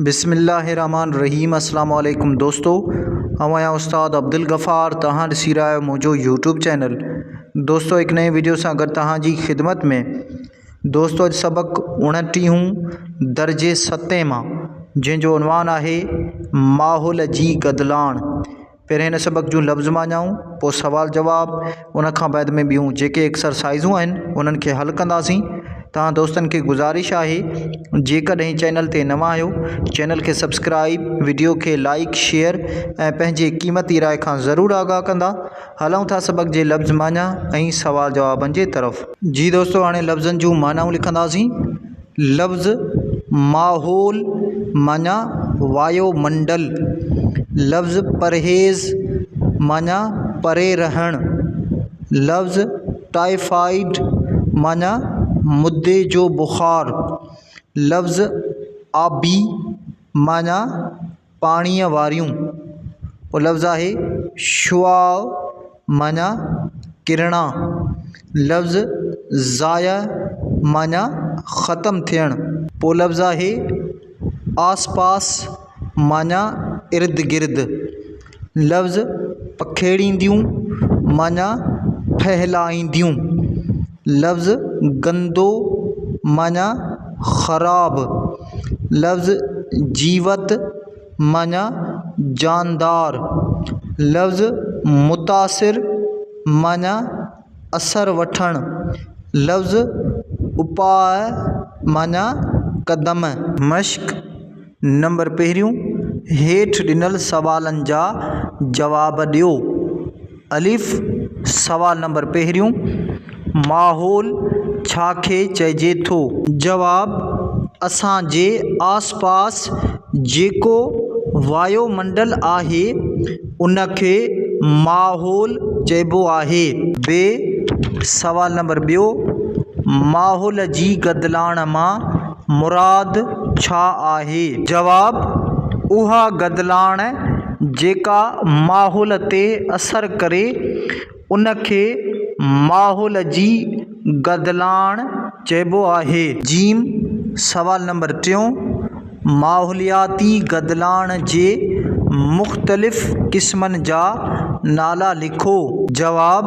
بسم الله الرحمٰن الرحيم السلام عليڪم دوستو آئون آهيان استاد عبدالغفار توهان ڏسي رهيا آهيو منهنجو يوٽيوب چينل دوستو هڪ نئين ويڊيو سان گڏ توهان جي خدمت ۾ دوستو اڄ سبق اڻٽيهون درجي ستين مان جنهن جو عنوان آهي ماحول جي گدلاڻ پهرين هن سبق جون لفظ معنائون، پوء سوال جواب، ان کان بعد ۾ ٻيون جيڪي ايڪسرسائيزون آهن انهن کي حل ڪنداسين. توهان دوستن کي گذارش آهي جيڪڏهن چينل تي نوان آهيو چينل کي سبسڪرائيب وڊيو کي لائيڪ شيئر ۽ پنهنجي قيمتي راء کان ضرور آگاهه ڪندا. هلون ٿا سبق جي لفظ معنيٰ ۽ سوال جوابن جي طرف. جي دوستو هاڻي لفظن جون معنائون لکنداسين. لفظ ماحول معنيٰ وايو منڊل لفظ پرهيز معنيٰ پري رهڻ لفظ ٽائيفائيڊ معنيٰ مدي جو بخار لفظ آبي معنيٰ پاڻيء واريون او لفظ آهي شعاع معنيٰ ڪرڻا لفظ ضايع معنيٰ ختم ٿيڻ پو لفظ آهي آس پاس معنيٰ ارد گرد لفظ پکيڙينديون معنيٰ ڦهلائينديون لفظ گندو معنيٰ خراب لفظ جيوت معني جاندار، لفظ متاثر معني اثر وٺڻ، لفظ اپاء معني قدم. مشق نمبر پهريون، هيٺ ڏنل سوالن جا جواب ڏيو. الف، سوال نمبر پهريون، ماحول ڇا کي چئجي ٿو؟ جواب، اسان جي آس پاس جيڪو وايو منڊل آهي ان کي ماحول چئبو آهي. ب، سوال نمبر ٻيو، ماحول جي گدلاڻ مان مراد ڇا آهي؟ جواب، اها گدلاڻ جيڪا ماحول تي اثر ڪري ان کي ماحول جي گدلاڻ چئبو آهي. ج سوال نمبر ٽيون، ماحولياتي گدلاڻ جي مختلف قسمن جا نالا لکو. جواب،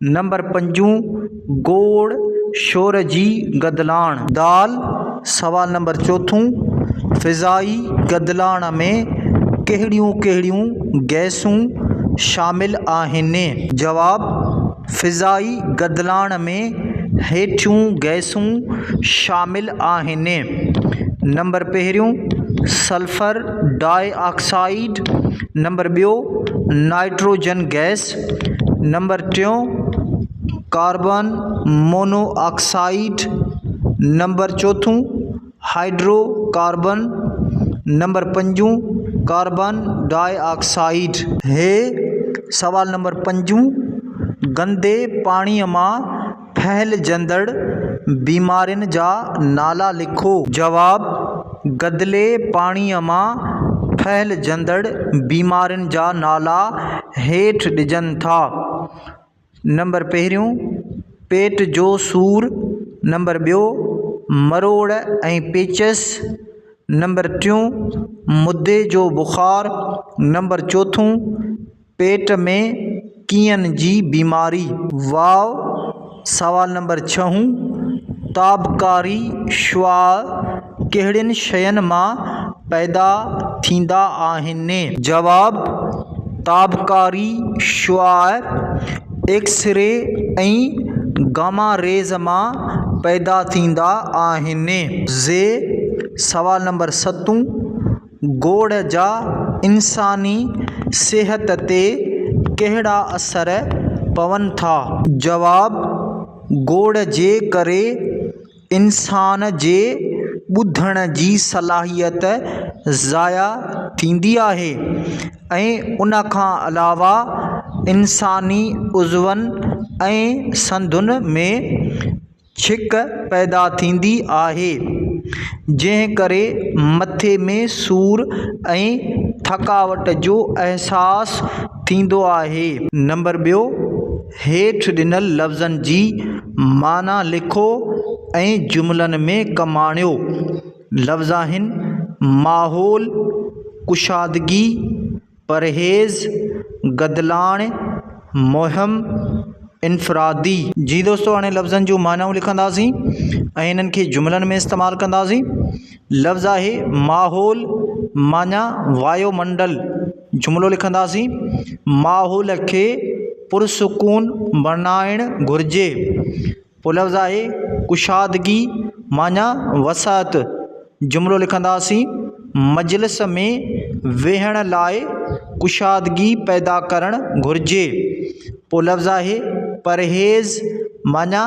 نمبر پنجون، گوڙ شور جي گدلاڻ. د، سوال نمبر چوٿون، فضائي گدلاڻ ۾ ڪهڙيون ڪهڙيون گئسون شامل آهن؟ جواب، فضائي گدلاڻ ۾ هيٺيون گئسون شامل آهن، نمبر پهريون، سلفر ڊاء آڪسائيڊ، نمبر ٻيو، نائٽروجن گئس، نمبر ٽيون، ڪاربان مونو آڪسائيڊ، نمبر چوٿون، هائڊرو ڪاربان، نمبر پنجون، ڪاربان ڊاء آڪسائيڊ. هي سوال نمبر پنجون، گندي پاڻيء مان ڦهلجندڙ بيمارين جا نالا لکو. جواب، گدلي پاڻيء مان ڦهلجندڙ بيمارين جا نالا هيٺ ڏجن ٿا، نمبر پهريون، پيٽ جو سور، نمبر ٻيو، مروڙ ۽ پيچس، نمبر ٽيون، مدي جو بخار، نمبر چوٿون، پيٽ ۾ ڪيئن جي بيماري. واء سوال نمبر ڇهون تابڪاري شعاع ڪهڙين شين مان پيدا ٿيندا آهن؟ جواب، تابڪاري شعاع ايڪس ري ۽ گاما ريز مان پيدا ٿيندا آهن. زي سوال نمبر ستون. گوڙ جا انساني صحت تي ڪهڙا اثر پون ٿا؟ جواب، گوڙ جي ڪري انسان جي ٻڌڻ جي صلاحيت ضايع ٿيندي آهي ۽ ان کان علاوه انساني عضون ۽ سنڌن ۾ ڇڪ پيدا ٿيندي آهي جنهن ڪري مٿي ۾ سور ۽ ٿڪاوٽ جو احساس ٿيندو آهي. نمبر ٻيو، هيٺ ڏنل لفظن جي معنيٰ لکو ۽ جملن ۾ ڪم آڻيو. لفظ آهن، ماحول، ڪشادگي، پرهيز گدلاڻي، مهم انفرادي. جي دوستو هاڻي لفظن جون معنائون لکنداسين ۽ انهن کي جملن ۾ استعمال ڪنداسين. لفظ آهي ماحول معنيٰ وايو منڊل. جملو لکنداسين، ماحول کي پرسڪون بڻائڻ گهرجي. پولفظ آهي ڪشادگي معني وسعت جملو لکنداسين مجلس ۾ ويهڻ لاء ڪشادگي پيدا ڪرڻ گهرجي پولفظ آهي پرهيز معني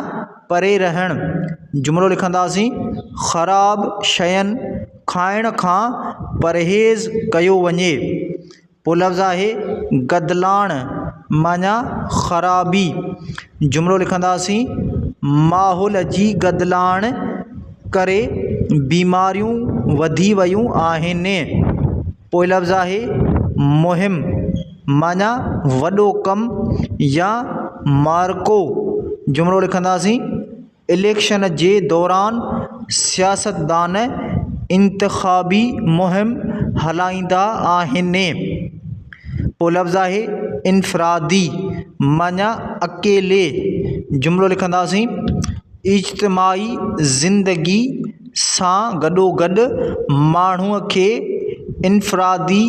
پري رهڻ جملو لکنداسين خراب شين کائڻ کان پرهيز ڪيو وڃي پوء لفظ آهي گدلاڻ معنيٰ خرابي جملو لکنداسين ماحول جي گدلاڻ ڪري بيماريون وڌي ويون آهن پوء لفظ آهي مهم معنيٰ وڏو ڪم يا معرڪو جملو لکنداسين اليڪشن جي دوران سياستدان انتخابي مهم هلائيندا آهن پوء لفظ آهي انفرادي معنيٰ اڪيلي جملو لکنداسين اجتماعي زندگي سان گڏو گڏ ماڻهو کي انفرادي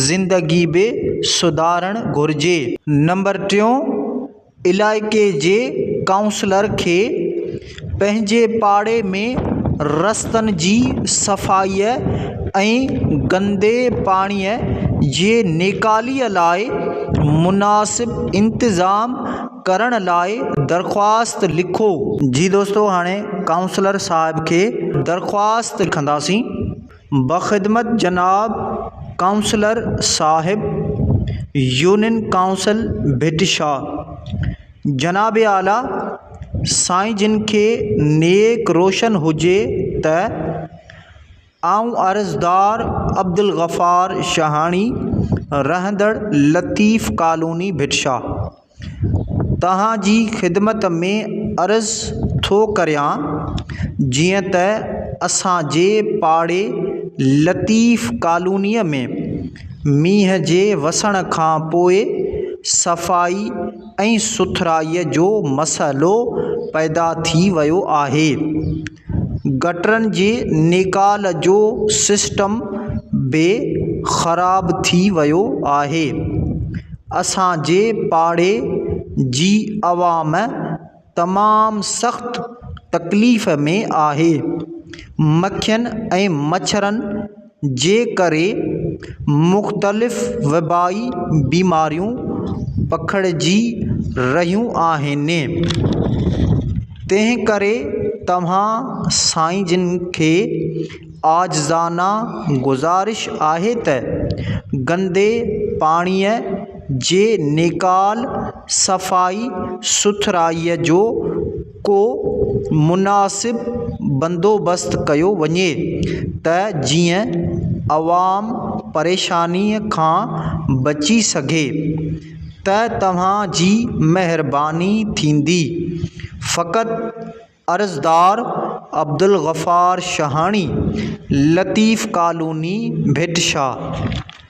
زندگي به سڌارڻ گهرجي نمبر ٽيون علائقي جي ڪائونسلر کي پنهنجي پاڙي ۾ رستن جي صفائيء ۽ گندي پاڻيء جي نيڪالي لاء مناسب انتظام ڪرڻ لاء درخواست لکو جي دوستو هاڻي ڪائونسلر صاحب کي درخواست لکنداسين بخدمت جناب ڪائونسلر صاحب يونين ڪائونسل ڀٽ شاھ جناب اعليٰ سائين جن کي نيڪ روشن هجي ته آئون عرضدار عبدالغفار شاهاڻي رهندڙ لطيف ڪالوني ڀٽ شاھ توهان جي خدمت ۾ عرض ٿو ڪريان جيئن ته اسان جي پاڙي لطيف ڪالوني ۾ مينهن جي وسڻ کان پوء صفائي ۽ سٿرائي جو مسئلو پيدا ٿي ويو آهي گٽرن جي نيڪال جو سسٽم به خراب ٿي ويو آهي اسان جي پاڙي جي عوام تمام سخت تڪليف ۾ آهي مکين ۽ مڇرن جي ڪري مختلف وبائي بيماريون پکڙجي رهيون آهن تنهن ڪري توهان سائين جن کي عاجزانه گذارش آهي ته گندي پاڻيء جي نيڪال صفائي سٿرائي جو ڪو مناسب بندوبست ڪيو وڃي ته جيئن عوام پريشاني کان بچي سگهي ته توهان جي مهرباني ٿيندي فقط عرضدار عبدالغفار شهاڻي لطيف ڪالوني ڀٽ شاهه